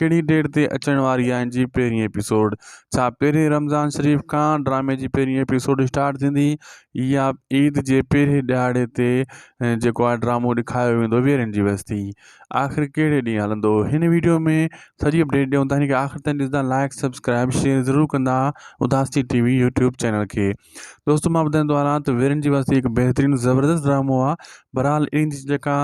ڪهڙي ڊيٽ تي اچڻ واري آهي جي پهرين ايپيسوڊ ڇا پهرين رمضان شريف کان ڊرامي جي پهرين ايپيسوڊ اسٽارٽ ٿيندي يا عيد جي پهرين ڏهاڙي تي جيڪو آهي ڊرامو ڏيکايو ويندو ويرين جي وستي آخر ڪهڙي ڏينهن هلندو هن ويڊيو ۾ سڄي اپڊيٽ ڏيون ٿا هن کي آخر تائين ڏسندا لائڪ سبسڪرائب شيئر ضرور ڪندا اداسي ٽي وي يوٽيوب چينل کي دوستو مان ٻڌائيندو آ رات ويرين جي وستي هڪ بهترين زبردست ڊرامو آ بھرحال انھي جي جيڪا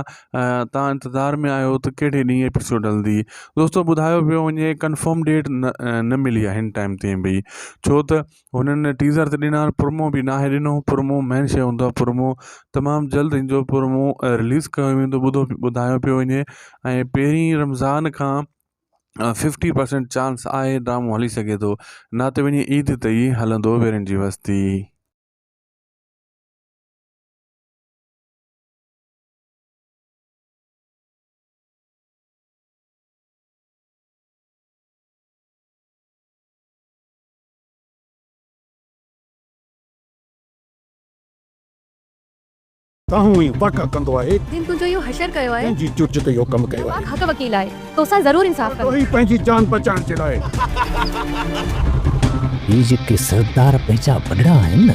تان انتظار ۾ آھيو تھ ڪھڙي ڏينھن ايپيسوڊ ھلندي دوستو ٻڌايو پيو وڃي ڪنفرم ڊيٽ نھ ملي آھي ھن ٽائيم تائين بي ڇو تھ ھنن ٽيزر تھ ڏنا آھن پرمو بي ناھي ڏنو پرمو مين شيء ھوندو آھي پرمو تمام جلد ھن جو پرمو رليز ڪيو ويندو ٻڌو ٻڌايو پيو وڃي ۽ پھرين رمضان کان ففٽي پرسنٽ چانس آھي ڊرامو ھلي سگھي ٿو نھ تھ وڃي عيد تي ئي ھلندو ويرين جي وستي تنهون ئي واڪا ڪندو آهي. جنهن تنهنجو اهو حشر ڪيو آهي. تنهنجي چرچ تي اهو ڪم ڪيو آهي. پاڪ حق وڪيل آهي. توسان ضرور انصاف ڪندو. ڏوهي پنهنجي جان بچائڻ جي لاء. هي جيڪي سردار پنهنجا وڏڙا آهن نه.